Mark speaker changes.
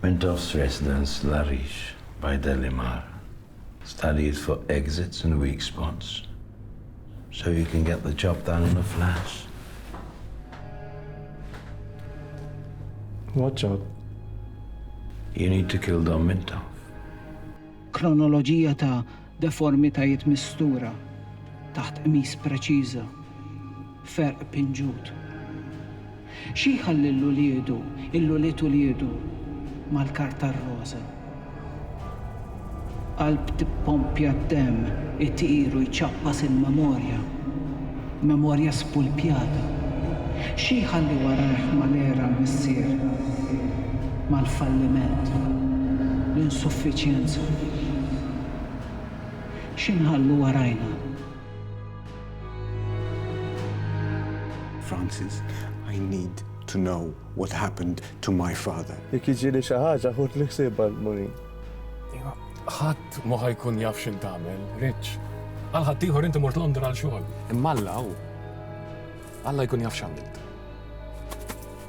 Speaker 1: Mintoff's Residence, L-Għarix, by Delimar, starijiet fuq exits and weak spots, so you can get the job done in a flash. What job? You need to kill Dom Mintoff. Kronoloġija ta' Deformitajiet mistura taħt qmis preċiża, ferq pinġut. Xi jħalli 'l uliedu, 'l ulied uliedu, mal-kard tar-roża. Qalb tippompja d-demm itir u jċappas il-memorja, memorja spulpjata. Xi jħalli warajh mal-għera l-missier, mal-falliment, l-insuffiċjenza. xi nħallu warajna. Francis, I need to know what happened to my father. Jekk jiġieli xi ħaġa ħudli ħsieb għal Maureen. Iva, ħadd ma ħa jkun jaf x'int tagħmel, Rich. Għal ħaddieħor inti mort Londra għal xogħol. Imma Alla hu. Alla jkun jaf x'għamilt.